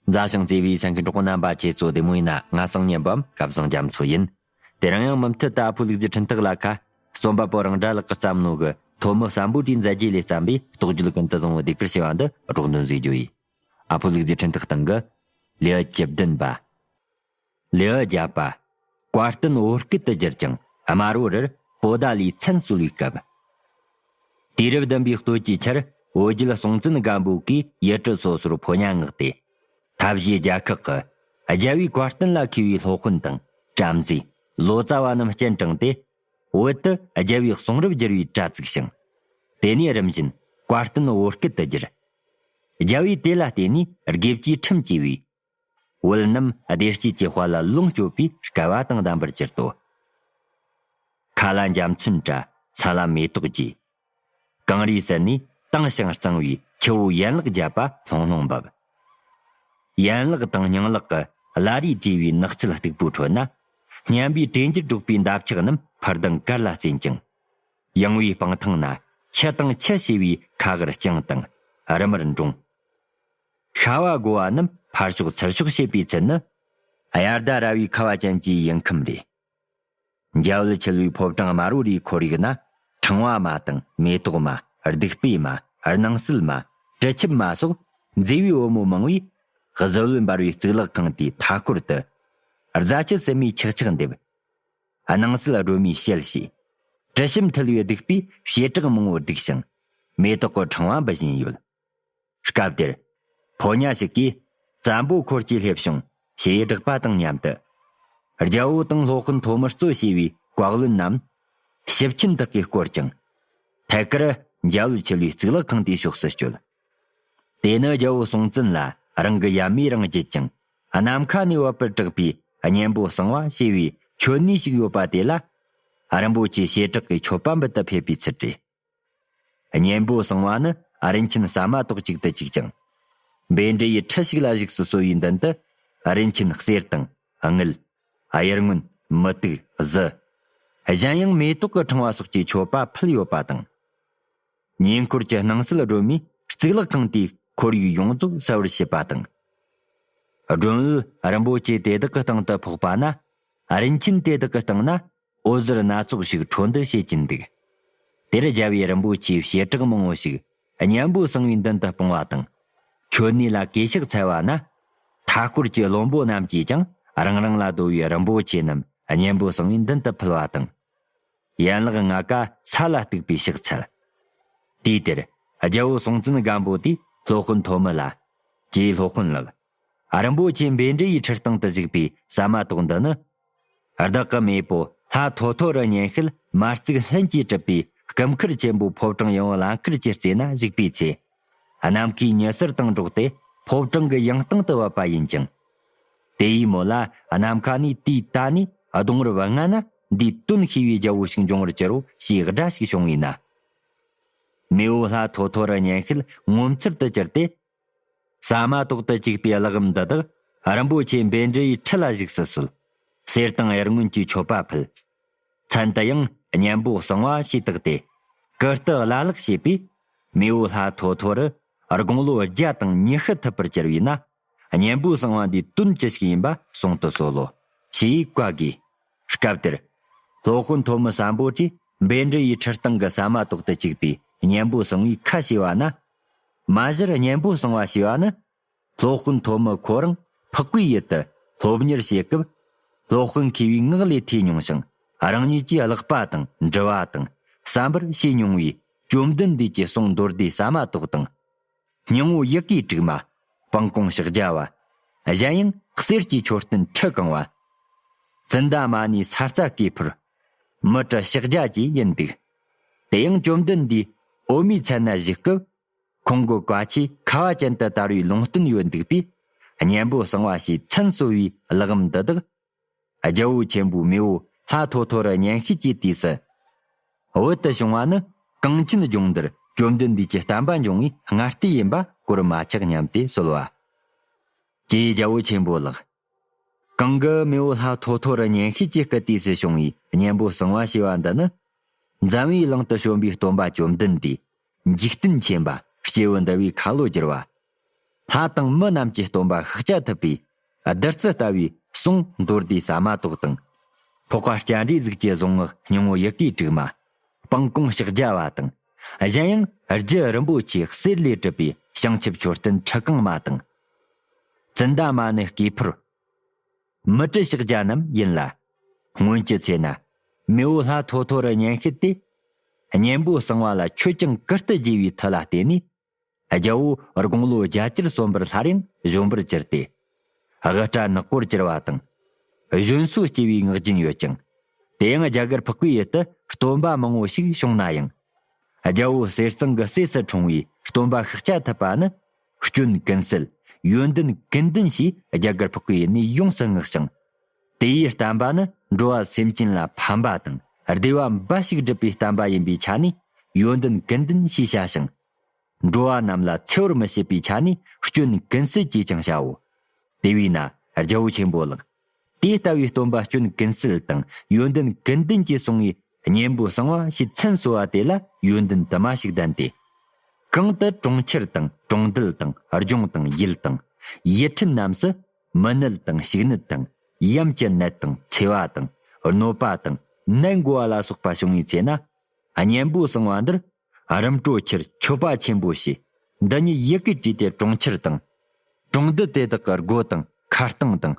རྫ་ཞིང་བརྩེ་བའི་ས་མཁན་གྲོགས་པོ་རྣམ་པ་ཁྱེད་ཚོ་བདེ་མོ་ཡིན་ན་ང་སང་ཉིན་བམ་སྐབས་བཟང་རྒྱ་མཚོ་ཡིན། དེ་རིང་ཡང་མུ་མཐུད་ལྟ་ཕོ་ལུག་རྫི་འཕྲིན་ཐག་ལ་ཁ། རྩོམ་པ་པོ་རང་དགྲ་ལག་གི་བརྩམས་ནོ་གི་ཐོ་མི་བསམ་པོ་དྲིས་མཛད་རྗེས་ལས་བརྩམས་པའི་རྟོགས་བརྗོད་ཀུན་ཏུ་བཟང་བོ་སྡེ་ཁུལ་ཞེས་པ་འདི་སྒྲོག་འདོན་བཟོས་རྒྱུ་ཡིན། ཨ་ཕོ་ལུག་རྫི་འཕྲིན་ཐག་སྟེང་གི། ལེའུ་བཅུ་བདུན་པ། ལེའུ་བརྒྱད་པ། བཀའ་བསྟན་བོད་སྐད་དུ་བསྒྱུར་ཅིང་དམར་བོ་རིར་པོ་ཟླ་ལིའི་མཚན་གསོལ་བའི་སྐབས། དུས་རབས་བདུན་པའི་སྟོད་ཀྱི་ཆར་བོད་རྒྱལ་སྲོང་བཙན་སྒམ་པོ་གིས་ཡུལ་གྲུ་སོ་སོར་ཕོ་ཉ་མངགས་ཏེ། ཐབས་ཤེས་རྒྱལ་ཁག་གི། རྒྱལ་བའི་བཀའ་བསྟན་ལ་མཁས་པའི་སློབ་དཔོན་དང་བྲམ་ཟེ། ལོ་ཙཱ་བ་རྣམས་སྤྱན་དྲངས་ཏེ། བོད་དུ་རྒྱལ་བའི་གསུང་རབ་བསྒྱུར་བའི་དྲྭ་བཙུགས་ཤིང། དེ་ནས་རིམ་བཞིན་བཀའ་བསྟན་བོད་སྐད་དུ་བསྒྱུར། རྒྱལ་བས་དེ་ལ་བརྟེན་ནས་དགེ་བཅུའི་ཁྲིམས་བཅས་པའི་བོད་རྣམས་བདེ་སྐྱིད་ཀྱི་དཔལ་ལ་ལོངས་སྤྱོད་པའི་སྐལ་བ་དང་ལྡན་པར་གྱུར་ཏོ། མཁའ་ལ་འཇམ་མཚོན་བྲལ་ས་ལ་མེ་ཏོག་རྒྱས། གངས་རིའི་གསེབ་ནས་དྭངས་ཞིང་གཙང་བའི་ཁྱི་བོའི་ཡན་ལག་བརྒྱད་པ་ལྷུང་ལྷུང་འབབ། ཡན་ལག་དང་སྙིང་ལག་གི་བླ་རེས་དྲས་པའི་ནགས་ཚལ་སྟུག་པོའི་ཁྲོད་ན། སྙན་པའི་གྲེ་འགྱུར་སྒྲོག་པའི་འདབ་ཆགས་རྣམས་འཕུར་ལྡིང་དཀར་ལ་རྩེན་ཅིང། ཡངས་བའི་སྤང་ཐང་ན་ཁྱི་དང་ཁྱི་ཞེས་པའི་ཁ་ཧར་རྐྱང་དང་རི་མར་འགྲོངས། ཤ་བ་སྒོ་བ་རྣམས་ཕར་ཕྱོགས་ཚུར་ཕྱོགས་བྱེད་པའི་ཚུལ་ནི། དབྱར་ཟླ་ར་བའི་ཁ་བ་ཅན་གྱི་དབྱིངས་ཁམས་རེད། རྒྱལ་བུ་འཁྱིལ་བའི་ཕོ་བྲང་དམར་བོ་རེའི་ཁོར་ཡུག་ན། ཕྲེང་བ་མ་དང་མེ་ཏོག་མ། བདུག་སྤོས་མ། སྣང་སྲིད་མ། དྲི་ཆུབ་མ་སོགས་མཛེས་པའི་བུ་མོ་མང་བས། གཟི་འོད་འབར་བའི་གཙུག་ལག་ཁང་དེའི་མཐའ་སྐོར་དུ། རྫ་ཆུ་བསིལ་མའི་ཆག་ཆག་འདེབས། སྣང་སྲིད་སྒྲོལ་མའི་ཞལ་བྱས། དྲི་ཞིམ་འཐུལ་བའི་བདུག་སྤོས་བྱེ་བྲག་མང་བོ་བསྒྲིགས་ཤིང། མེ་ཏོག་གི་ཕྲེང་བ་འབུལ་བཞིན་ཡོད། སྐབས་དེར། ཕོ་ཉ་ཞིག་གིས། བཙན་པོ་འཁོར་གྱིས་སླེབས་བྱུང། ཞེས་བསྒྲགས་པ་དང་མཉམ་དུ། རྒྱལ་པོ་དང་སློབ་དཔོན་ཐོག་མར་གཙོས་བྱས་པའི་བཀའ་བློན་རྣམས། ཞིབ་ཁྱིམ་དག་གིས་བསྐོར་ཅིང། ཐད་ཀར། རྒྱལ་བོའི་ཆོས་ལུགས་གཙུག་ལག་ཁང་དེའི་ཕྱོགས་སུ་བསྐྱོད། དེ་ནི་རྒྱལ་པོ་སྲོང་བཙན་ལ་རང་གི་ཡབ་མེས་རང་བརྒྱུད་ཅིང། ནམ་མཁའ་ནས་བབས་པར་གྲགས་པའི་གཉན་པོ་གསང་བ་ཞེས་པའི་ཆོས་གནས་ཤིག་ཡོད་པ་དེ་ལ། རིན་པོ་ཆེའི་བྱེ་བྲག་གི་མཆོད་པ་འབུལ་ཐབས་ཕེབས་པའི་ཚུལ་བྲིས། གཉེན་པོ་གསང་བ་ནི་རིན་ཆེན་ཟ་མ་ཏོག་གཅིག་ཏུ་གཅིག་ཅིང། རྦད་འདྲེ་ཡི་ཁྲི་ཞིག་ལ་བཞུགས་སུ་གསོལ་བའི་མདུན་དུ། རིན་ཆེན་གསེར་དང་དངུལ། གཡུར་སྔོན། མུ་ཏིག། གཟི། གཞན་ཡང་མེ་ཏོག་གི་ཕྲེང་བ་སོགས་ཀྱི་མཆོད་པ་ཕུལ་ཡོད་པ་དང། ཉེ་འཁོར་གྱི་སྣང་སྲིད་སྒྲོལ་མའི་གཙུག་ལག་ཁང་དེའི་ཁོར་ཡུག་ཡོངས་རྫོགས་གསལ་བར་བྱས་པ་དང། སྒྲོན་འོད་རིན་པོ་ཆེ་དེ་དག་གི་སྟེང་དུ་ཕོག་པ་ན། རིན་ཆེན་དེ་དག་གི་སྟེང་ན་འོད་ཟེར་སྣ་ཚོགས་ཤིག་འཕྲོ་འདུ་བྱེད་ཀྱིན་འདུག། དེར་རྒྱལ་བའི་རིན་པོ་ཆེའི་བྱེ་བྲག་མང་བོ་ཞིག་སྙན་པོའི་གསང་བའི་མདུན་དུ་སྤུངས་བ་དང། ཁྱོད་གནས་ལ་གས་ཤག་འཚལ་བ་ན། མཐའ་སྐོར་གྱི་བློན་པོ་རྣམས་ཀྱིས་ཀྱང་རང་རང་ལ་བསྡོ་བའི་རིན་པོ་ཆེ་རྣམས་སྙན་པོའི་གསང་བའི་མདུན་དུ་ཕུལ་བ་དང། ཡན་ལག་ལྔ་ཀ་ས་ལ་གཏུགས་པའི་ཕྱག་འཚལ། དུས་དེར་རྒྱལ་པོ་སྲོང་བཙན་སྒམ་པོ་དེས་སློབ་དཔོན་ཐོ་མི་ལ། ཀྱིས་སློབ་དཔོན་ལགས། རིན་པོ་ཆེ་འབེལ་འབྲི་ཡི་ཁྲི་སྟེང་དུ་བཞུགས་པའི་ཟ་མ་ཏོག་འདི་ནི། བདག་གི་མེས་པོ་ལྷ་ཐོ་ཐོ་རུ་ཉན་ཤེལ་མ་བརྩིགས་ལྷུན་གྱིས་གྲུབ་པའི་སྐུ་མཁར་ཆེན་པོའི་ཕོབ་གྲངས་ཡང་བླ་མཁར་གྱི་རྩེ་ན་བཞུགས་པའི་ཚེ། གནམ་སྐས་ཉི་ཟེར་སྟེང་འགྲོགས་ཏེ་ཕོབ་གྲངས་ཀྱི་ཡང་སྟེང་དུ་བབས་པ་ཡིན་ཅིང། དེ་ཡིས་མོ་ལ་ནམ་མཁའ་ནས་དུས་ད་ནས་གདོང་རུ་བ་ལྔ་ན་འདིའི་དོན་ཤེས་པའི་རྒྱལ་པོ་ཞིག་འབྱུང་བར་གྱུར་རོ་ཞེས་སྒྲ་ཞིག་བྱུང་བས་ན། མེས་པོ་ལྷ་ཐོ་ཐོ་རུ་ཉན་ཤེལ་ངོ་མཚར་དུ་གྱུར་ཏེ་ས་མ་ཏོག་ཏུ་བཅུག་པའི་གླགས་རིམ་འདི་དག་རིན་པོ་ཆེ་འབེན་འབྲི་ཡི་ཁྲི་ལ་གཞུག་སུ་གསོལ། གསེར་དང་གཡེར་སྔོན་གྱི་མཆོད་པ་ཕུལ། མཚན་དུ་ཡང་གཉན་པོ་གསང་བ་ཞེས་བཏགས་ཏེ། ཀིརྟི་བླ་ལྷག་བྱས་པས། མེ་འོད་ལྷ་ཐོ་ཐོ་རུ་དགུང་ལོ་བརྒྱ་དང་ཉི་ཤུ་ཐུབ་པར་གྱུར་བས་ན། གཉན་པོའི་གསང་བ་འདིའི་དོན་ཅི་ཞིག་ཡིན་པ་གསུང་དུ་གསོལ་ལོ། ཞེས་བཀའ་བསྒོས། སྐབས་དེར། སློབ་དཔོན་ཐོ་མི་སམ་པོ་ཏྲིས་འབེན་འབྲི་ཡི་ཁྲི་སྟེང་གི་ས་མ་ཏོག་ཏུ་བཅུག་པའི་གཉན་པོ་གསང་བའི་ཁ་ཕྱེ་བ་ན། མ་གཞིར་སྙན་པོ་གསང་བ་ཞེས་པ་ནི། སློབ་དཔོན་ཐོབ་མི་ཁོ་རང་འཕགས་པའི་ཡུལ་དུ་སློབ་གཉེར་བྱེད་སྐབས། སློབ་དཔོན་མཁས་པའི་ངག་ལས་ཐོས་མྱོང་ཞིང་རང་ཉིད་ཀྱིས་བཀླགས་པ་དང་འདྲི་བ་དང་བསམ་པར་བྱས་མྱོང་བའི་བཅོམ་ལྡན་འདས་ཀྱི་གསུང་མདོར་བསྡུས་ཟ་མ་ཏོག་དང། སྙིང་བོ་ཡི་གེའི་དྲུག་མ། སྤང་གོང་ཕྱག་རྒྱ་བ། གཞན་ཡང་གསེར་གྱི་མཆོད་རྟེན་ཁྲི་བཀང་བ། ཙནྡ་མ་ནི་ས་རྩ་བཀས་ཕུར། མི་ཏྲ་ཕྱག་རྒྱ་བཅས་ཡིན་འདུག། དེ་ཡང་བཅོམ་ལྡན་འདས་འོག་མའི་ཚལ་ན་བཞུགས་སྐབས། ཁོང་གི་བཀའ་ཆོས་ཁ་བ་ཅན་དུ་དར་བའི་ལུང་བསྟན་ཡོད་འདུག་པས། གཉན་པོ་གསང་བ་ཞེས་མཚན་གསོལ་བའི་ལག་ལམ་འདི་དག། རྒྱལ་པོ་ཆེན་པོའི་མེས་པོ་ལྷ་ཐོ་ཐོ་རུ་གཉན་ཤེས་ཀྱི་དུས་སུ། བོད་དུ་བྱུང་བ་ནི་གངས་ཅན་ལྗོངས་འདིར་བཅོམ་ལྡན་འདས་ཀྱི་བསྟན་པ་འབྱུང་བའི་སྔ་ལྟས་ཡིན་པ་གོར་མ་ཆག་སྙམ་སྟེ་གསོལ་བ། ཀྱེ་རྒྱལ་པོ་ཆེན་པོ་ལགས། གང་གི་རྨེའུ་ལྷ་ཐོ་ཐོ་རུ་གཉེན་བཤེས་ཀྱི་སྐུ་དུས་སུ་བྱུང་བའི་གཉེན་པོ་གསང་བ་ཞེས་པ་འདི་ནི། འཛམ་བུའི་གླིང་དུ་བྱོན་པའི་སྟོན་པ་བཅོམ་ལྡན་འདས། འཇིག་རྟེན་ཆེན་པ་སྐྱེ་བོ་འདུལ་བའི་ཁ་ལོ་བསྒྱུར་བ། ལྷ་དང་མི་རྣམས་ཀྱི་སྟོན་པ་ཤིག་ཅག་ཐུབ་པས། བདུད་རྩི་ལྟ་བུའི་གསུང་མདོ་སྡེ་ཟ་མ་ཏོག་དང། ཕོག་པ་སྐྱ་འདྲའི་གཟུགས་ཀྱི་གཟུངས་སྔགས་སྙིང་བོ་ཡི་གེའི་དྲུག་མ། སྤང་སྐོང་ཕྱག་རྒྱ་བ་དང། གཞན་ཡང་རྒྱུད་རིན་པོ་ཆེ་གསེར་ལས་གྲུབ་པའི་བྱང་ཆུབ་མཆོད་རྟེན་ཁྲི་རྐང་མ་དང། ཙནྡ་མ་ནི་དཀྱིལ་འཕུར། མི་ཏྲི་ཤག་བརྒྱ་རྣམས་ཡིན་ལ། སྔོན་གྱི་ཚེ་ན། མེ་འོད་ལྷ་ཐོ་ཐོ་རུ་གཉན་ཤེད་དེ། གཉན་པོ་གསང་བ་ལ་ཆོས་སྐྱོང་ཀིརྟི་རྒྱས་པའི་མཐུ་ལ་བརྟེན་ནས། རྒྱལ་པོ་དགུང་ལོ་བརྒྱད་ཅུར་གསོན་པར་སླར་ཡང་གཞོན་པར་གྱུར་ཏེ། དབུ་སྐྲ་ནག་པོར་གྱུར་བ་དང། གཞོན་སུ་སྐྱེས་པའི་ངག་རྒྱུན་ཡོད་ཅིང། དེ་ཡང་རྒྱ་གར་ཕག་པའི་ཡུལ་དུ་སྟོན་པ་མང་བོ་ཞིག་བྱུང་ན་ཡང། རྒྱལ་པོ་གསེར་གཙང་གི་སྲས་སུ་འཁྲུངས་པའི་སྟོན་པ་ཤཱཀྱ་ཐུབ་པ་ནི། སྐྱོན་ཀུན་སེལ། ཡོན་ཏན་ཀུན་ལྡན་ཞེས་རྒྱ་གར་ཕག་པའི་གནས་ཡོངས་སུ་བསྔགས་ཤིང། དེའི་བསྟན་པ་ནི་འགྲོ་བ་སེམས་ཅན་ལ་ཕན་པ་དང་བདེ་བ་འབའ་ཞིག་སྒྲུབ་པའི་བསྟན་པ་ཡིན་པའི་ཆ་ནས་ཡོན་ཏན་ཀུན་ལྡན་ཞེས་བྱ་ཞིང། འགྲོ་བ་རྣམས་ལ་འཚེ་བར་མི་བྱེད་པའི་ཆ་ནས་སྐྱོན་ཀུན་སེལ་ཅེས་ཀྱང་བྱའོ། དེ་བས་ན་རྒྱལ་པོ་ཆེན་པོ་ལགས། དེ་ལྟ་བུའི་སྟོན་པ་སྐྱོན་ཀུན་སེལ་དང་ཡོན་ཏན་ཀུན་ལྡན་གྱི་གསུང་ངའི་སྙིང་པོ་གསང་བ་ཞེས་མཚན་གསོལ་བ་དེ་ལ་ཡོན་ཏན་དུ་མ་ཞིག་ལྡན་ཏེ། གང་དུ་གྲོང་ཁྱེར་དང་གྲོང་རྡལ་དང་ལྗོངས་དང་ཡུལ་དང། ཡུལ་ཁྲིམས་རྣམས་སུ། མི་ནད་དང་ཞིག་ནད་དང། ཡམས་ཀྱི་ནད་དང་འཚེ་བ་དང། གནོད་པ་དང། ནད་འགོ་བ་ལ་སོགས་པ་བྱུང་བའི་ཚེ་ན། སྙིང་པོ་གསང་བ་འདིར་རིམ་གྲོ་ཁྱེར་མཆོད་པ་ཆེན་པོ་བྱས། འདི་ཉིད་ཡི་གེ་བྲིས་ཏེ་གྲོང་ཁྱེར་དང། གྲོང་རྡལ་དེ་དག་གི་སྒོ་དང་ཁ་སྟེང་དང།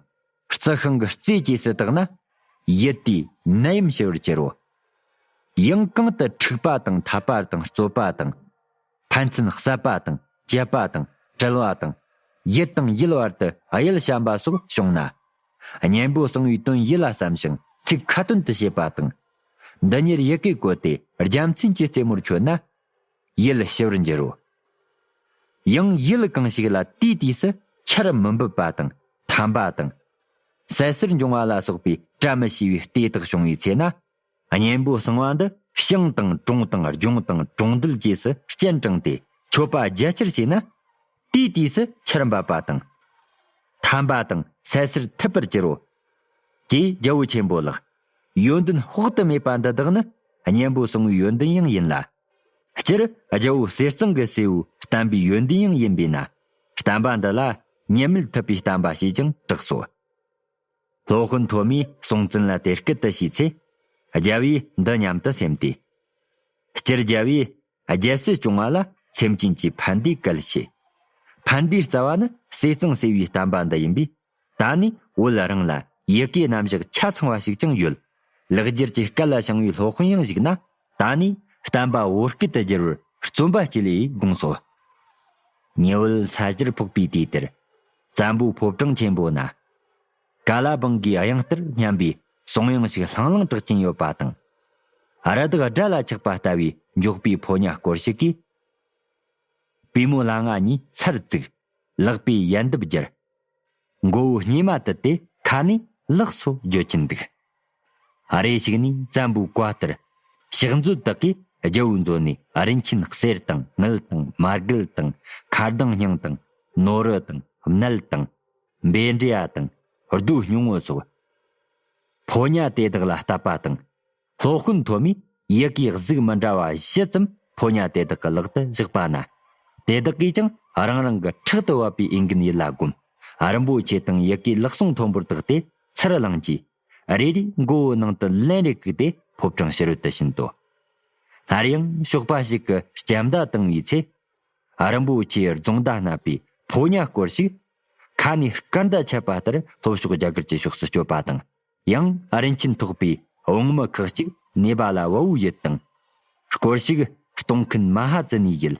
རྩི་ཤིང་གི་རྩེའི་སྐྱེས་སུ་དག་ན། ཡིད་དུས་ནད་ཡམས་ཞི་བར་གྱུར། ཡང་གང་དུ་འཁྲིག་པ་དང་འཐབ་པ་དང་རྩོད་པ་དང། ཕན་ཚུན་བསད་པ་དང་བཅད་པ་དང་དྲལ་བ་དང། ཡིད་དང་ཡིད་བར་དུ་གཡེལ་བཤམས་པ་སོགས་བྱུང་ན། གཉེན་པོ་གསང་བའི་དོན་ཡིད་ལ་བསམ་ཞིང་ཚིག་ཁ་ཏོན་དུ་བྱེད་པ་དང། འདི་ཉིད་ཡི་གེས་བཀོད་དེ་རྒྱལ་མཚན་གྱི་རྩེ་མོར་མཆོད་ན། ཡུལ་ཞི་བར་འགྱུར་རོ། ཡང་ཡུལ་གང་ཞིག་ལ་དུས་དུས་སུ་ཆར་མི་འབབ་པ་དང་ཐམ་པ་དང། ཟད་གསེར་འབྱུང་བ་ལ་སོགས་པའི་བཀྲ་མི་ཤིས་པའི་ལྟས་དག་བྱུང་བའི་ཚེ་ན། གཉེན་པོ་གསང་བ་འདི་ཞིང་དང་གྲོང་དང་ལྗོངས་དང་གྲོང་རྡལ་བཅས་སུ་སྤྱན་དྲངས་ཏེ་མཆོད་པ་རྒྱ་ཆེར་བྱས་ན། དུས་དུས་སུ་ཆར་འབབ་པ་དང། ཐམ་པ་དང་ཟད་གསེར་ཐུབ་པར་གྱུར་རོ། ཅེས་རྒྱལ་པོ་ཆེན་པོ་ལགས། ཡོན་ཏན་དཔག་ཏུ་མེད་པ་འདི་དག་ནི་གཉེན་པོ་གསང་བའི་ཡོན་ཏན་ཡང་ཡིན་ལ། སྤྱིར་རྒྱལ་པོ་གསེར་གཙང་གི་སྲས་པོའི་བསྟན་པའི་ཡོན་ཏན་ཡང་ཡིན་པས་ན་བསྟན་པ་འདི་ལ་ངེས་མེད་ཐུབ་པའི་བསྟན་པ་ཞེས་ཀྱང་གྲགས་སོ། ལྷོ་ཧོན་ཐོ་མའི་གསུང་བཙན་ལ་དེ་སྐད་དུ་ཞུས་ཚེ། རྒྱལ་བས་འདི་སྙམ་དུ་སེམས་ཏེ། སྤྱིར་རྒྱལ་བས། རྒྱལ་སྲིད་སྐྱོང་བ་ལ་སེམས་ཅན་གྱི་ཕན་བདེའི་སྐལ་བྱེད། ཕན་བདེའི་རྩ་བ་ནི་སྲིད་གཙང་སྲིད་པའི་བསྟན་པ་འདི་ཡིན་པས། ད་ནི་བོད་རང་ལ་ཡི་གེའི་རྣམ་གཞག་ཆ་ཚང་བ་ཞིག་ཀྱང་ཡོད། ལེགས་སྒྱུར་གྱི་སྐལ་ལ་བྱང་བའི་སློབ་དཔོན་ཡང་གཞིགས་ན་ད་ནི་བསྟན་པ་བོད་སྐད་དུ་བསྒྱུར་བར་བརྩོན་པ་གཅིག་ལས་དགོངས་སོ། ཉི་འོད་ཚ་ཞིར་ཕོག་པའི་དུས་དེར། བཙན་པོའི་ཕོ་བྲང་ཆེན་པོ་ན། ཀ་ལ་སྦང་གིས་གཡང་རྟར་སྙམ་པའི་གསུང་དབྱངས་ཤིག་ལྷང་ལྷང་གྲག་ཀྱིན་ཡོད་པ་དང། རི་དྭགས་སྦྲ་ལ་ཆགས་པ་ལྟ་བུའི་མགྱོགས་པའི་ཕོ་ཉ་སྐོར་ཞིག་གིས། པུས་མོ་ལ་ང་གཉིས་ཚར་བཙུགས། ལག་པས་ཡལ་འདབ་བསྒྱུར། མགོ་བོའི་སྙེ་མ་དུད་དེ་ཁ་ནས་ལག་སོ་བརྗོད་ཀྱིན་འདུག། རེ་ཞིག་ནས་བཙན་པོའི་བཀའ་ལྟར། ཕྱག་མཛོད་དག་གིས་རྒྱལ་བོའི་མཛོད་ནས་རིན་ཆེན་གསེར་དང་དངུལ་དང་མར་གུལ་དང་ཁ་གདངས་སྙིང་དང་ནོར་རུ་དང་མཎྜལ་དང། རྦད་འདྲེ་ཡ་དང་རྡོའི་སྙིང་བོ་སོགས། ཕོ་ཉ་དེ་དག་ལ་བཏབ་པ་དང། ལྷོ་སྐུ་མཐོ་མའི་ཡི་གེའི་གཟུགས་མི་འདྲ་བ་བཞི་ཙམ་ཕོ་ཉ་དེ་དག་གི་ལག་ཏུ་བཞག་པ་ན། དེ་དག་གིས་ཀྱང་རང་རང་གི་ཕྲག་ཏུ་བབས་པའི་འོས་འགན་ཡིད་ལ་བསྒོམ། རིན་པོ་ཆེ་དང་ཡི་གེའི་ལག་ཟུང་མཐོན་པོར་བཏགས་ཏེ་ཚུར་བླངས་རྗེས། རེ་རེའི་མགོ་བོའི་ནང་དུ་ལན་རེ་བཀུག་སྟེ་ཕོ་བྲང་ཕྱི་རོལ་དུ་ཕྱིན་ཏོ། སླར་ཡང་ཞོགས་པ་ཞིག་གི་སྐྱབས་མདའ་བཏིང་བའི་ཚེ། རིན་པོ་ཆེའི་རྫོང་མདའ་བསྣབས་པའི་ཕོ་ཉ་སྐོར་ཞིག་ཁ་ནས་སྐར་མདའ་ཆད་པ་ལྟར་ལྷོ་ཕྱོགས་རྒྱ་གར་གྱི་ཕྱོགས་སུ་བསྐྱོད་པ་དང། ཡང་ཨ་རིན་ཆིན་ཐོགས་པའི་བོང་མི་ཁག་ཅིག་ནེ་པ་ལ་དབའ་བོའི་ཡུལ་དང། སྐོར་ཞིག་གཏོང་མཁན་མ་ཧ་ཙི་ནིའི་ཡུལ།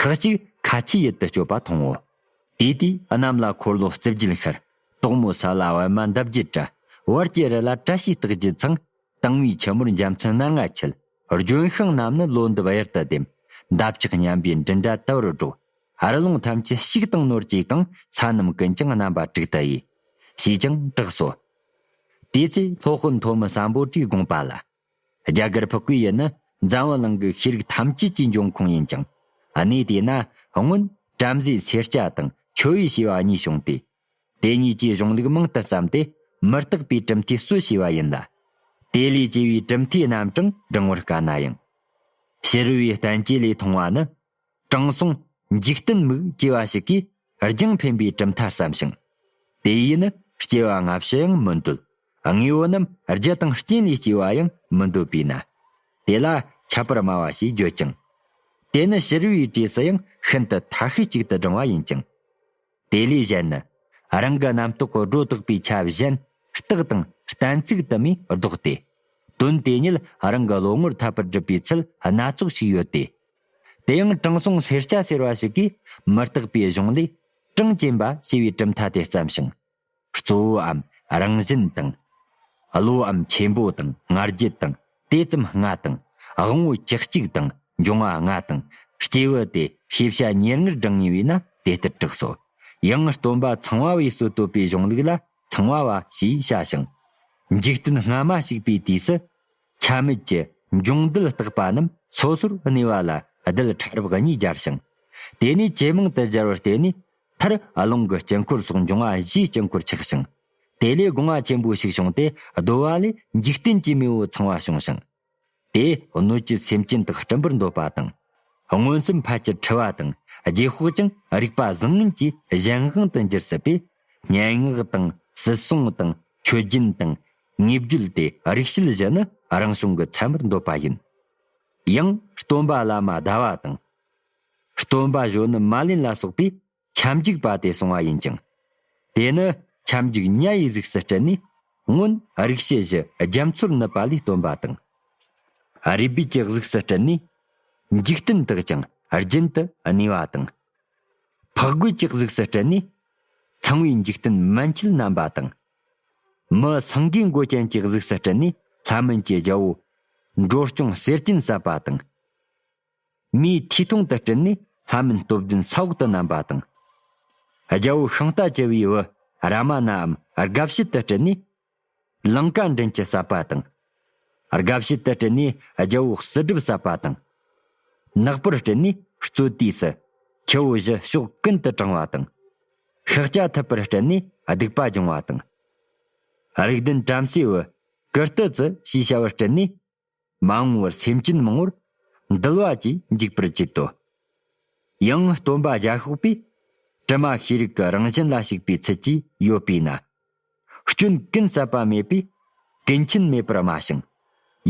ཁག་ཅིག་ཁ་ཆེའི་ཡུལ་དུ་བསྐྱོད་པ་མཐོང་ངོ། དེ་དུས་གནམ་ལ་འཁོར་ལོ་རྩིབས་བརྒྱད་ཤར། དོག་མོ་ས་ལ་བལ་མ་འདབ་བརྒྱད་བཀྲ། བར་གྱི་རི་ལ་བཀྲ་ཤིས་རྟགས་བརྒྱད་འཚང། དྭངས་བའི་ཆུ་མོར་འཇམ་མཚོན་སྣ་ལྔ་འཁྱིལ། ལྗོན་ཤིང་རྣམས་ནི་ལོ་འདབ་གཡུར་དུ་ལྡེམ། འདབ་ཆགས་མཉམ་པའི་མགྲིན་སྒྲ་དལ་བུར་སྒྲོག། ཧར་ལུང་ཐམས་ཅད་གཅིག་དང་ནོར་གཅིག་དང་ས་རྣམས་ཀུན་ཀྱང་རྣམ་པ་དྲུག་ཏུ་དབྱེ། ཞེས་ཀྱང་གྲགས་སོ། དེའི་ཚེ་ལྷོ་སྤུན་མཐོ་མི་བསམ་པོ་བཀྲིས་དགོངས་པ་ལ། རྒྱ་གར་ཕག་གི་ཡུལ་ནི་འཛམ་བུ་གླིང་གི་ཤེས་རིག་ཐམས་ཅད་ཀྱི་འབྱུང་ཁུངས་ཡིན་ཅིང། གནས་དེ་ན་སྔོན་བྲམ་ཟེའི་ཚེ་སྐྱ་དང་ཆོས་དབྱིག་ཞེས་པ་གཉིས་བྱུང་སྟེ། དེ་གཉིས་ཀྱི་གཞུང་ལུགས་མང་དུ་བརྩམས་ཏེ་མི་རྟག་པའི་གྲུབ་མཐའི་སྲོལ་ཕྱེས་པ་ཡིན་ལ། དེ་ལས་སྐྱེས་པའི་གྲུབ་མཐའི་རྣམ་གྲངས་བགྲང་བར་དཀའ་ན་ཡང། ཕྱི་རོལ་བའི་བསྟན་བཅོས་ལས་མཐོང་བ་ནི། དྲང་སྲོང་འཇིག་རྟེན་མུག་སྐྱེས་པ་ཞིག་གིས་རྒྱང་འཕེན་པའི་གྲུབ་མཐའ་བསམ་ཞིང། དེ་ཡིས་ནི་སྐྱེ་བ་སྔ་ཕྱི་ཡང་མི་འདོད། དངོས་པོ་རྣམས་རྒྱུ་དང་རྐྱེན་ལས་སྐྱེ་བ་ཡང་མི་འདོད་པས་ན། དེ་ལ་ཁྱད་པར་སྨྲ་བ་ཞེས་བརྗོད་ཅིང། དེ་ནི་ཕྱི་རོལ་བའི་གྲས་སུ་ཡང་ཤིན་ཏུ་མཐའ་ཤས་གཅིག་ཏུ་བགྲང་བ་ཡིན་ཅིང། དེ་ལས་གཞན་ནི། རང་གི་རྣམ་རྟོག་གི་སྒྲོ་བཏགས་པའི་ཆ་བཞིན་རྟགས་དང་གཏན་ཚིགས་དུ་མས་བཟློག་སྟེ། དོན་དེ་ཉིད་རང་གི་བློ་ངོར་འཐབ་པར་སྒྲུབ་པའི་ཚུལ་སྣ་ཚོགས་ཤིག་ཡོད་དེ། དེ་ཡང་དྲང་སྲོང་སེར་སྐྱ་ཟེར་བ་ཞིག་གིས་མི་རྟག་པའི་གཞུང་ལས། གྲངས་ཅན་པ་ཞེས་པའི་གྲུབ་མཐའ་དེ་བརྩམས་ཤིང། གཙོ་བོའམ་རང་བཞིན་དང། བློའམ་ཆེན་པོ་དང་ལྔ་བརྒྱུད་དང་དེ་ཙམ་ལྔ་དང། དབང་བོ་བཅུ་གཅིག་དང་འབྱུང་བ་ལྔ་དང། སྐྱེས་བུ་སྟེ་ཤེས་བྱ་ཉེར་ལྔར་བགྲང་ངེས་པས་ན་དེ་ལྟར་གྲགས་སོ། ཡང་སྟོན་པ་ཚང་བ་བས་སུ་བསྟོད་པའི་གཞུང་ལུགས་ལ་ཚང་བ་བ་ཞེས་བྱ་ཞིང། འཇིག་རྟེན་སྔ་མ་ཞིག་པའི་དུས་སུ། ཆ་མེད་ཀྱི་འབྱུང་རྡུལ་བརྟག་པ་རྣམས་སོ་སོར་གནས་པ་ལ་རྡུལ་ཕྲ་རབ་གཉིས་སྦྱར་ཞིང། དེ་ནས་ཇེ་མང་དུ་སྦྱར་བར་བརྟེན་ནས་མཐར་རླུང་གི་དཀྱིལ་འཁོར་སོགས་འབྱུང་བ་བཞིའི་དཀྱིལ་འཁོར་ཆགས་ཤིང། དེ་ལས་སྒོ་ང་ཆེན་པོ་ཞིག་བྱུང་སྟེ་བརྡོལ་བ་ལས་འཇིག་རྟེན་གྱི་མེས་པོ་ཚང་བ་བྱུང་ཞིང། དེས་གནོད་བྱེད་སེམས་ཅན་དག་སྤྲིན་པར་འདོད་པ་དང། མངོན་སུམ་ཕལ་ཆེར་འཁྲི་བ་དང་རྗེས་དཔག་ཀྱང་རིག་པ་བཟང་ངན་གྱི་གཞན་དབང་དུ་འགྱུར་སྲིད་པས། སྙན་ངག་དང་སྲིད་སྲུང་དང་མཆོད་སྦྱིན་དང། ངེས་བརྒྱུད་དེ་རིགས་བཤད་བཞི་ནི་རང་བྱུང་གི་མཚན་མར་འདོད་པ་ཡིན། ཡང་སྟོན་པ་བླ་མ་ཟླ་བ་དང། སྟོན་པ་གཞོན་ནུ་མ་ལིན་ལ་སོགས་པས་ཁྱབ་འཇུག་པ་དེ་གསུང་བ་ཡིན་ཅིང། དེ་ནི་ཁྱབ་འཇུག་དམྱལ་ཡི་གཟུགས་སུ་སྤྲུལ་ནས། སྔོན་རིག་བྱེད་བཞི་རྒྱ་མཚོར་ནུབ་པ་ལས་སྟོན་པ་དང། རུས་སྦལ་གྱི་གཟུགས་སུ་སྤྲུལ་ནས། འཇིག་རྟེན་དག་ཀྱང་རྒྱུན་དུ་གནས་པ་དང། ཕག་རྒོད་ཀྱི་གཟུགས་སུ་སྤྲུལ་ནས། ཚངས་པའི་འཇིག་རྟེན་མན་ཆད་བསྣམས་པ་དང། མི་སངས་རྒྱས་མགོ་ཅན་གྱི་གཟུགས་སུ་སྤྲུལ་ནས་ལྷ་མིན་གྱི་རྒྱལ་པོ། འགྲོ་སྐྱོང་གསེར་སྐྱེམས་བསབས་པ་དང། མིའི་ཐིས་ཐུང་དུ་སྤྲུལ་ནས་ལྷ་མིན་སྟོབས་ལྡན་ས་འོག་ཏུ་བསྣམས་པ་དང། རྒྱལ་པོ་ཤིང་རྟ་བྱེ་བའི་བུ་ར་མ་ནའམ་རྒ་བྱེད་དུ་སྤྲུལ་ནས། ལང་ཀ་མགྲིན་གྱི་ཟབ་པ་དང། རྒ་བྱེད་དུ་སྤྲུལ་ནས་རྒྱལ་པོ་གསུར་སྒྲུབ་ཟབ་པ་དང། ནག་པོར་སྤྲུལ་ནས་རྩོད་དུས་སུ་ཁྱེའུ་བཞི་ཕྱོགས་ཀུན་ཏུ་དྲང་བ་དང། ཤཱཀ་སྐྱ་ཐུབ་པར་སྤྲུལ་ནས་སྡིག་པ་སྦྱོང་བ་དང། རིགས་ལྡན་བྲམ་ཟེའི་བུ་ཀིརྟི་ཙི་ཞེས་བྱ་བར་སྤྲུལ་ནས་མ་འོངས་པར་སེམས་ཅན་མང་བོར་འདུལ་བ་གྱིས་འཇིགས་པར་བྱེད་དོ། ཡང་སྟོན་པ་རྒྱ་ཤོག་པས་དྲི་མ་ཤེས་རིག་གི་རང་བཞིན་ལ་ཞུགས་པའི་ཚུལ་གྱིས་ཡོད་པས་ན། སྐྱོན་ཀུན་བསལ་བ་མེད་པས་ཀུན་མཁྱེན་མེད་པར་སྨྲ་ཞིང།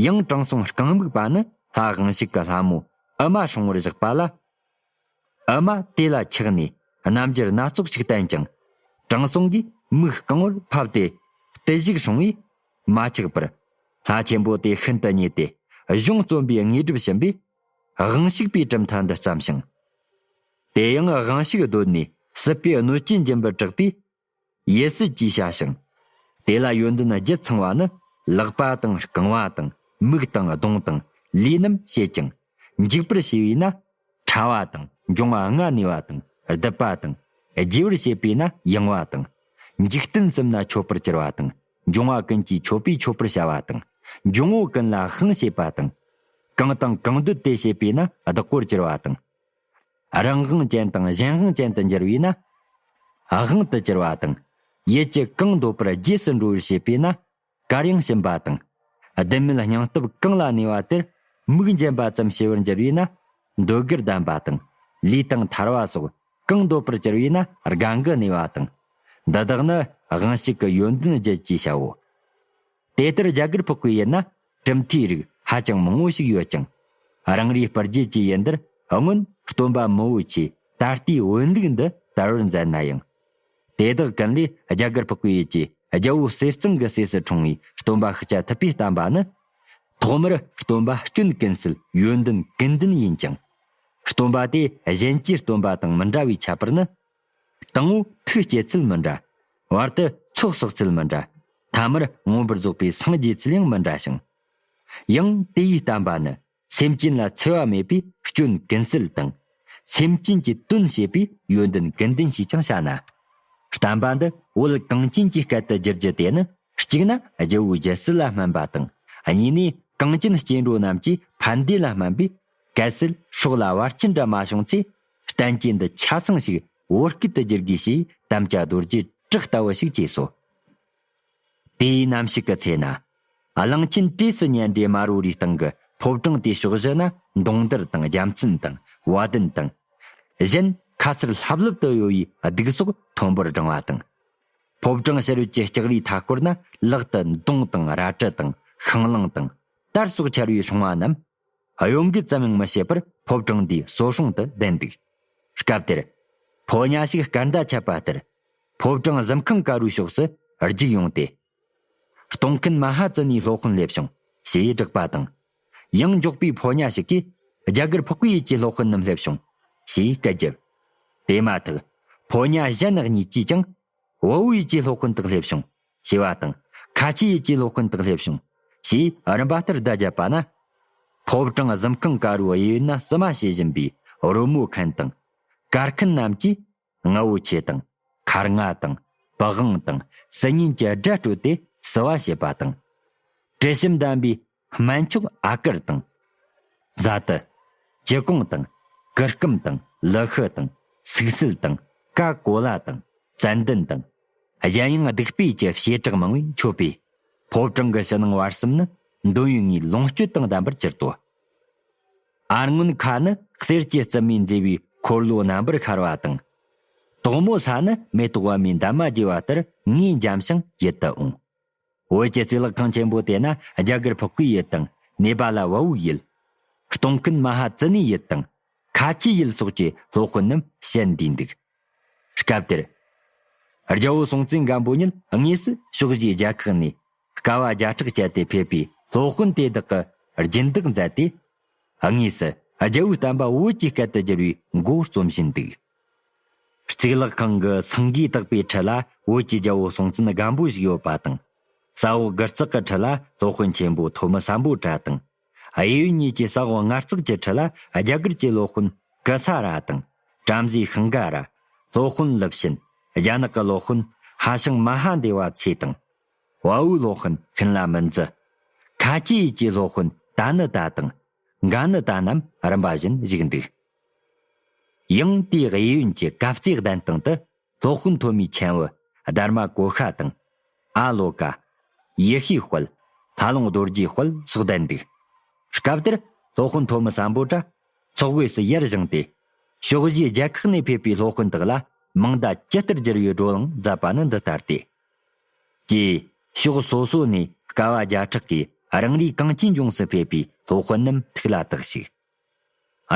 ཡང་དྲང་སྲོང་རྐང་སྨུག་པ་ནི་ལྷ་དབང་ཞིག་གི་ལྷ་མོ་ཨི་མ་ཧྲང་བོར་བཞག་པ་ལ། ཨ་མ་དེ་ལ་ཆགས་ནས་རྣམ་འགྱུར་སྣ་ཚོགས་ཤིག་བསྟན་ཀྱང། དྲང་སྲོང་གིས་མིག་རྐང་བར་ཕབ་སྟེ་བརྟུལ་བཞུགས་བྱུང་བས་མ་ཆགས་པར། ལྷ་ཆེན་པོ་དེ་ཤིན་ཏུ་མཉེས་ཏེ་གཞུང་རྩོམ་པའི་དངོས་གྲུབ་བྱིན་པས། དབང་ཞུགས་པའི་གྲུབ་མཐའ་འདི་བརྩམས་ཤིང། དེ་ཡང་དབང་ཤུགས་བརྡོལ་ནས་སྲིད་པའི་གནོད་སྐྱོན་རྒྱུན་པར་དྲག་པས་ཡེ་སྲིད་ཀྱིས་བྱ་ཞིང། དེ་ལ་ཡོན་ཏན་བརྒྱད་ཚང་བ་ནི་ལག་པ་དང་རྐང་བ་དང་མིག་དང་གདོང་དང་ལུས་རྣམས་བྱེད་ཅིང། འཇིག་པར་བྱེད་པས་ན་ཕྲ་བ་དང་འབྱུང་བ་ལྔ་གནས་པ་དང་རྡིབ་པ་དང། རྒྱས་པར་བྱེད་པས་ན་ཡེངས་བ་དང། འཇིག་རྟེན་གསུམ་ན་འཆོལ་པར་གྱུར་པ་དང་འབྱུང་བ་ཀུན་གྱིས་འཆོལ་པས་འཆོལ་པར་བྱ་བ་དང། འབྱུང་བོ་ཀུན་ལ་ཤིང་བྱེད་པ་དང། གང་དང་གང་འདོད་དེ་བྱེད་པས་ན་བདག་པོར་གྱུར་པ་དང། རང་དབང་ཅན་དང་གཞན་དབང་ཅན་དུ་འགྱུར་བས་ན། དབང་དུ་གྱུར་པ་དང། ཡིད་ཀྱི་གང་འདོད་པར་རྗེས་སུ་འགྲོ་བར་བྱེད་པས་ན། གར་ཡང་བྱིན་པ་དང། བདེན་མེད་སྙིང་སྟོབས་གང་ལ་གནས་པ་དེར་མིག་འབྱེད་པ་ཙམ་བྱེད་པར་འགྱུར་བས་ན། འདོད་དགུར་ལྡན་པ་དང། ལུས་དང་ཐར་བ་སོགས་གང་འདོད་པར་གྱུར་བས་ན་རྒ་འགུ་གནས་པ་དང། འདི་དག་ནི་དབང་ཤུགས་ཀྱི་ཡོན་ཏན་བརྒྱད་ཅེས་བྱའོ། དེ་ལྟར་རྒྱ་གར་ཕོག་པའི་ཡུལ་ན་གྲུབ་མཐའི་རིགས་ཧ་ཅང་མང་བོ་ཞིག་ཡོད་ཀྱང། རང་རེའི་སྤར་རྒྱལ་གྱི་ཡུལ་འདིར་སྔོན་སྟོན་པ་མོ་བོ་ཆེས་ད་ལྟའི་བོན་ལུགས་འདི་དར་བར་མཛད་ན་ཡང། དེ་དག་ཀུན་ལས་རྒྱ་གར་ཕོག་པའི་ཡུལ་གྱི་རྒྱལ་བོ་གསེར་གཙང་གི་སྲས་སུ་འཁྲུངས་བའི་སྟོན་པ་ཤཱཀྱ་ཐུབ་པས་བསྟན་པ་ནི། ཐོག་མར་སྟོན་པ་སྐྱོན་ཀུན་སེལ་ཡོན་ཏན་ཀུན་ལྡན་ཡིན་ཅིང། སྟོན་པ་དེ་གཞན་གྱི་སྟོན་པ་དང་མི་འདྲ་བའི་ཁྱད་པར་ནི། དང་བོ་ཐུགས་སྐྱེད་ཚུལ་མི་འདྲ། བར་དུ་ཚོགས་བསགས་ཚུལ་མི་འདྲ། ཐ་མར་མངོན་པར་རྫོགས་པའི་སངས་རྒྱས་ཚུལ་ཡང་མི་འདྲ་ཞིང། ཡང་དེ་ཡིས་བསྟན་པ་ནི་སེམས་ཅན་ལ་འཚེ་བ་མེད་པའི་སྐྱོན་གན་སེལ་དང། སེམས་ཅན་གྱི་དོན་བྱེད་པའི་ཡོན་ཏན་གན་ལྡན་ཞེས་ཀྱང་བྱ་ན། བསྟན་པ་འདི་བོད་གངས་ཅན་གྱི་སྐད་དུ་བསྒྱུར་རྒྱུ་དེ་ནི་གཅིག་ན་རྒྱལ་བོའི་རྒྱལ་སྲིད་ལ་སྨན་པ་དང། གཉིས་ནས་གངས་ཅན་སྐྱེ་འགྲོ་རྣམས་ཀྱི་ཕན་བདེ་ལ་སྨན་པས། གལ་སྲིད་ཕྱོགས་ལ་བར་ཁྱི་འདྲ་མ་བྱུང་ཚེ་བསྟན་བཅོས་འདི་ཆ་ཚང་ཞིག་བོད་སྐད་དུ་བསྒྱུར་དགོས་ཞེས་དམ་བཅའ་རྡོ་རྗེ་བྲག་ལྟ་བུ་ཞིག་བྱས་སོ། དེའི་ནམ་ཞིག་གི་ཚེ་ན། གླིང་ཆེན་བཀྲས་སུ་ཉེ་འབྲེལ་དམར་བོའི་རིའི་སྟེང་གི་ཕོབ་གྲངས་དེའི་ཕྱོགས་བཞི་ན་མདུང་དར་དང་རྒྱལ་མཚན་དང་བ་དན་དང། གཞན་ཁ་གསལ་ལྷབ་ལྷུབ་ཏུ་གཡོ་བའི་གདུགས་སོགས་མཐོན་པོར་བསྒྲེང་བ་དང། ཕོབ་གྲངས་ཕྱི་རོལ་གྱི་ལྕགས་རིའི་མཐའ་སྐོར་ན་ལག་ཏུ་མདུང་དང་རལ་གྲི་དང་ཤིང་གླང་དང། དར་སོགས་འཕྱར་བའི་ཤོང་བ་རྣམས་ཨ་ཡོ་འགུས་ཙམ་ཡང་མི་བྱེད་པར་ཕོ་བྲང་དེའི་སོ་ཤོང་དུ་བསྡད་འདུག་སྐབས་དེར། ཕོ་ཉྭ་ཞིག་སྐར་མདའ་ཆད་པ་ལྟར། ཕོ་བྲང་གཟིམ་ཁང་ཀ་རུའི་ཕྱོགས་སུ་རྒྱུག་ཡོང་སྟེ། གཏོང་མཁན་མ་ཧ་ཙི་ནས་སློག་ཤིང་སླེབས་བྱུང་ཞེས་བསྒྲགས་པ་དང། ཡང་འགྱོགས་པའི་ཕོ་ཉྭ་ཞིག་གིས་རྒྱ་གར་ཕག་པའི་ཡུལ་གྱི་སློག་ཤིང་རྣམས་སླེབས་བྱུང་ཞེས་སྐད་བརྒྱབ། དེ་མ་ཐག་ཕོ་ཉྭ་གཞན་གཉིས་ཀྱིས་ཀྱང། བོའུ་ཡུལ་གྱི་སློག་ཤིང་དག་སླེབས་བྱུང་ཞེས་པ་དང། ཁ་ཆེའི་ཡིད་ཀྱིས་སློབ་དཔོན་དག་སླེབས་བྱུང། ཞེས་རིམ་པ་ལྟར་བརྡ་བརྒྱབ་པ་ན། ཕོབ་གྲངས་གཟིམ་ཁང་དཀར་བོའི་གཡས་གཡོན་ན་བསུ་མ་བྱེད་བཞིན་པའི་རོལ་མོ་མཁན་དང། གར་མཁན་རྣམས་ཀྱིས་རྔ་བོ་ཆེ་དང། མཁར་རྔ་དང། བག་དབང་དང། སྲི་ཉིན་གྱི་སྒྲ་སྤྲོད་དེ་བསུ་བ་བྱེད་པ་དང། དྲི་ཞིམ་ལྡན་པའི་སྨན་མཆོག་ཨ་དཀར་དང། བཟའ་ཏི། ཅི་གོང་དང། ཀི་སྐུམ་དང་ལི་ཤི་དང་སུག་སིལ་དང་ཀ་ཀོ་ལ་དང་ཙན་དན་དང། གཞན་ཡང་བདུག་སྤོས་ཀྱི་བྱེ་བྲག་མང་བས་མཆོད་པས། ཕོ་བྲང་གི་ཕྱི་ནང་བར་གསུམ་ནི་འདོད་ཡོན་ལྔའི་ལོངས་སྤྱོད་དང་ལྡན་པར་གྱུར་ཏོ། ཨར་རྔོན་ཁ་ནི་གསེར་གྱི་རྩི་མས་མཛེས་པའི་འཁོར་ལོ་རྣམ་པར་ཤར་བ་དང། དོག་མོ་ས་ནི་མེ་ཏོག་བར་མའི་འདབ་མ་རྒྱས་པ་ལྟར་ངས་འཇམ་ཞིང་ཡིད་དུ་འོང། བོད་ཀྱི་རྩིས་ལག་ཁང་ཆེན་པོ་དེ་ན་རྒྱ་གར་ཕག་གི་ཡུལ་དང་ནེ་པ་ལ་བ་བུག་ཡུལ། སྟོང་ཀུན་མ་ཧ་ཙི་ནའི་ཡུལ་དང། ཁ་ཆེའི་ཡུལ་སོགས་ཀྱི་སློབ་དཔོན་རྣམས་བཤད་འདུས་འདུག་སྐབས་དེར། རྒྱལ་བོ་སྲོང་བཙན་སྒམ་པོ་ཉིད་དངོས་སུ་ཕྱོགས་བཞིའི་རྒྱལ་ཁག་ནས་དཀའ་བ་བརྒྱ་ཕྲག་སྤྱད་དེ་ཕེབས་པའི་སློབ་དཔོན་དེ་དག་གི་སྦྱིན་བདག་མཛད་དེ། དངོས་སུ་རྒྱལ་བོའི་བསྟན་པ་བོད་ཀྱི་སྐད་དུ་བསྒྱུར་བའི་མགོ་རྩོམ་བཞིན་འདུག། གཙུག་ལག་ཁང་གི་ཚང་གིས་བཏགས་པའི་ཁྲི་ལ་བོད་ཀྱི་རྒྱལ་པོ་སྲོང་བཙན་སྒམ་པོ་བཞུགས་ཡོད་པ་དང། ས་འོག་དགུ་རྩེག་གི་ཁྲི་ལ་སློབ་དཔོན་ཆེན་པོ་ཐོ་མི་ས་འབོ་བྲ་དང། དབྱི་ཡུལ་གཉིས་ཀྱི་ས་འོག་ལྔ་རྩེག་གྱི་ཁྲི་ལ་རྒྱ་གར་གྱི་སློབ་དཔོན་ཀི་ཚ་ར་དང། བྲམ་ཟེའི་ཤིང་ག་ར། སློབ་དཔོན་ལིབ་ཤིན། རྒྱ་ནག་གི་སློབ་དཔོན་ཧ་ཤང་མ་ཧ་འདེ་བ་ཚེ་དང། དབའ་བོའི་སློབ་དཔོན་ཤིན་ལ་མིན་ཛི། ཁ་ཆེ་ཡུལ་གྱི་སློབ་དཔོན་ཏཱ་ནི་ཏཱ་དང། འགའ་ནི་ཏཱ་རྣམས་རིམ་པ་བཞིན་བཞུགས་འདུག། ཡང་དེའི་དབྱི་ཡོན་གྱི་གབ་རྩེ་གདན་སྟེང་དུ་སློབ་དཔོན་ཐོ་མིའི་མཆན་འོད་སྡར་མ་གོ་ཤ་དང། ཨ་ལོ་ཀ། ཡེ་ཤེས་དཔལ། ཕ་ལོང་རྡོ་རྗེའི་དཔལ་སོགས་བསྡད་འདུག། སྐབས་དེར་སློབ་དཔོན་ཐོ་མི་བསམ་པོ་འདྲ། ཚོགས་དབུས་སུ་ཡར་བཞེངས་ཏེ། ཕྱོགས་བཞིའི་རྒྱལ་ཁག་ནས་ཕེབས་པའི་སློབ་དཔོན་དག་ལ་མིང་བརྡ་ཇི་ལྟར་བསྒྱུར་བའི་བགྲོ་གླེང་མཛད་པ་ནི་འདི་ལྟར་ཏེ། ཀྱེ། ཕྱོགས་སོ་སོ་ནས་དཀའ་བ་བརྒྱ་ཕྲག་གིས་རང་རེའི་གངས་ཅན་ལྗོངས་སུ་ཕེབས་པའི་སློབ་དཔོན་རྣམས་ཐུགས་ལ་བཏགས་ཤིག།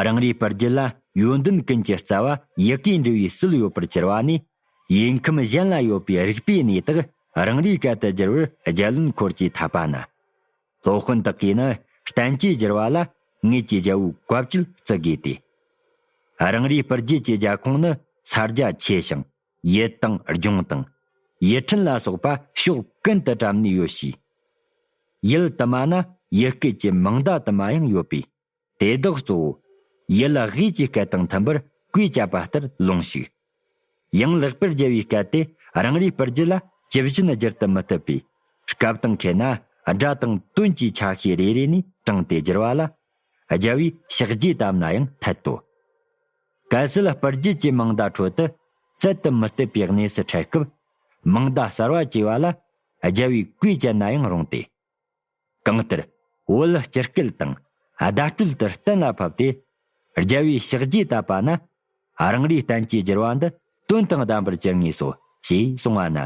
རང་རེའི་པར་རྒྱུད་ལ་ཡོན་ཏན་ཀུན་གྱི་རྩ་བ་ཡི་གེའི་འབྲི་བའི་སྲོལ་ཡོད་པར་གྱུར་པ་ནི། ཡིག་ཁམས་གཞན་ལ་ཡོད་པའི་རིག་པའི་གནས་དག་རང་རེའི་སྐད་དུ་བསྒྱུར་བར་རྒྱལ་བློན་འཁོར་གྱིས་ཐར་པ་ན། སློབ་དཔོན་དག་གིས་ནི་གཏན་གྱི་བསྒྱུར་བ་ལ་ངེད་ཀྱི་རྒྱལ་བོའི་བཀའ་བཅུད་བརྩི་དགོས་ཏེ། རང་རེའི་པར་རྒྱུད་ཀྱི་རྒྱལ་ཁོངས་ནི་ས་རྒྱ་ཆེ་ཞིང་ཡི་དང་རྒྱུང་དང། ཡི་ཕྲན་ལ་སོགས་པ་ཕྱོགས་ཀུན་ཏུ་བཀྲམ་ནས་ཡོད་ཞིག། ཡུལ་དུ་མ་ན་ཡི་སྐད་ཀྱི་མིང་བརྡ་དུ་མ་ཡང་ཡོད་པས། དེ་དག་གཙོ་བོ། ཡུལ་དབྱེ་ཀྱི་སྐད་དང་མཐུན་པར་བཀོད་བྱ་བ་ལྟར་ལོངས་ཤིག། ཡང་ལེགས་པར་རྒྱལ་བའི་སྐད་དེ་རང་རེའི་པར་རྒྱུད་ལ་ཇི་བཞིན་བསྒྱུར་དུ་མི་བཏུབ་པས། སྐབས་དང་ཁེལ་ན་སྒྲ་དང་དོན་གྱི་ཆ་ཤས་རེ་རེ་ནས་དྲངས་ཏེ་བསྒྱུར་བ་ལ། རྒྱལ་བའི་ཕྱག་རྒྱས་བཏབ་ན་ཡང་འཐད་དོ། གལ་སྲིད་སྤར་རྒྱུ་བཅས་མིང་བརྡ་ཁྲོད་དུ་རྩལ་དུ་མི་གཏོད་པའི་གནས་སུ་འཕྲད་སྐབས། མིང་བརྡ་གསར་བ་བཅས་བ་ལ་རྒྱལ་བའི་བཀོད་སྤྱད་ན་ཡང་རུང་སྟེ། གང་ལྟར་བོད་ལ་སྤྱིར་སྐད་དང་བརྡ་སྤྲོད་ལྟར་གཏན་ལ་ཕབ་སྟེ། རྒྱལ་བའི་ཕྱག་རྗེས་བཏབ་པ་ན། རང་རེའི་བསྟན་བཅོས་བསྒྱུར་བ་འདི་དོན་དང་ལྡན་པར་བསྒྱུར་ངེས་སོ་ཞེས་གསུང་བ་ན།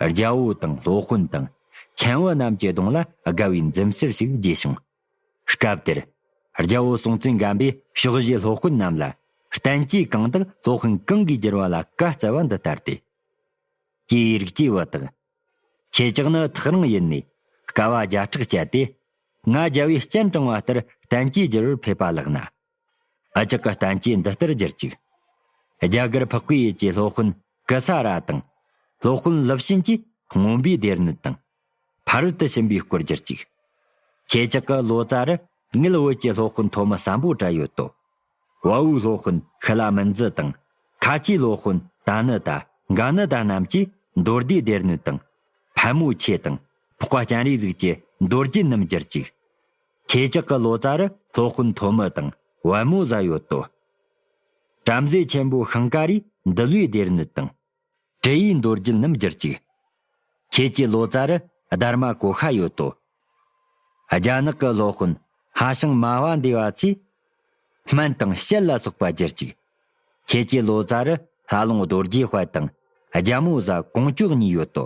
རྒྱལ་པོ་དང་སློབ་དཔོན་དང། མཁན་བོད་རྣམས་ཀྱི་གདོང་ལ་དགའ་བའི་འཛུམ་ཟེར་ཞིག་རྒྱས་བྱུང། སྐབས་དེར། རྒྱལ་པོ་སྲོང་བཙན་སྒམ་པོས་ཕྱོགས་བཞིའི་སློབ་དཔོན་རྣམས་ལ། བསྟན་བཅོས་གང་དག་སློབ་མཁན་གང་གིས་བསྒྱུར་བ་ལ་བཀའ་སྩལ་བ་འདི་ལྟར་ཏེ། སྐྱེ་བའི་རིགས་སྐྱེ་བ་དག། ཁྱེད་ཅག་ནི་ཐག་རིང་ཡུལ་ནས་དཀའ་བ་བརྒྱ་ཕྲག་སྤྱད་དེ། ང་རྒྱལ་བོས་སྤྱན་དྲངས་བ་ལྟར་བསྟན་བཅོས་བསྒྱུར་བར་ཕེབས་པ་ལགས་ན། ཨ་ཅག་གི་གཏམ་གྱིས་འདི་ལྟར་བསྒྱུར་ཅིག། རྒྱ་གར་འཕགས་པའི་ཡུལ་གྱི་སློབ་དཔོན་ཀི་ཚ་ར་དང། སློབ་དཔོན་ལིབ་ཤིན་གྱིས་རྔོན་པའི་སྡེར་སྣོད་དང། ཕ་རོལ་ཏུ་ཕྱིན་པའི་སྐོར་བསྒྱུར་ཅིག། ཁྱེད་ཅག་གི་ལོ་ཙཱ་རུ་དངུལ་བོད་ཀྱི་སློབ་དཔོན་ཐོ་མི་བསམ་པོ་གྲགས་ཡོད་དོ། དབའ་བོའི་སློབ་དཔོན་ཤི་ལ་མིན་ཛི་དང། ཁ་ཆེའི་སློབ་དཔོན་ད་ནི་ད་ག་ནི་ད་རྣམས་ཀྱིས་མདོ་སྡེའི་སྡེར་སྣོད་དང། ཕལ་མོ་ཆེ་དང། ཕོག་པ་སྤྱན་རས་གཟིགས་ཀྱི་མདོ་རྒྱུད་རྣམས་བསྒྱུར་ཅིག། ཁྱེད་ཅག་གི་ལོ་ཙཱ་རུ་ལྷོ་དཔོན་མཐོ་མི་དང་བལ་མོ་བཟའ་ཡོད་དོ། བྲམ་ཟེ་ཆེན་པོ་ཤིང་ཀ་རས་འདུལ་བའི་སྡེར་སྣོད་དང། དྲི་ཡི་མདོ་རྒྱུད་རྣམས་བསྒྱུར་ཅིག། ཁྱེད་ཀྱི་ལོ་ཙཱ་རུ་སྡར་མ་གོ་ཤ་ཡོད་དོ། རྒྱ་ནག་གི་ལྷོ་དཔོན་ཧ་ཤང་མ་བ་འདི་བ་ཚོས་སྨན་དང་བཤལ་ལ་སོགས་པ་བསྒྱུར་ཅིག། ཁྱེད་ཀྱི་ལོ་ཙཱ་རུ་ལྷ་ལུང་རྡོ་རྗེ་དཔལ་དང་རྒྱལ་མོ་བཟའ་གོང་ཅོག་གཉིས་ཡོད་དོ།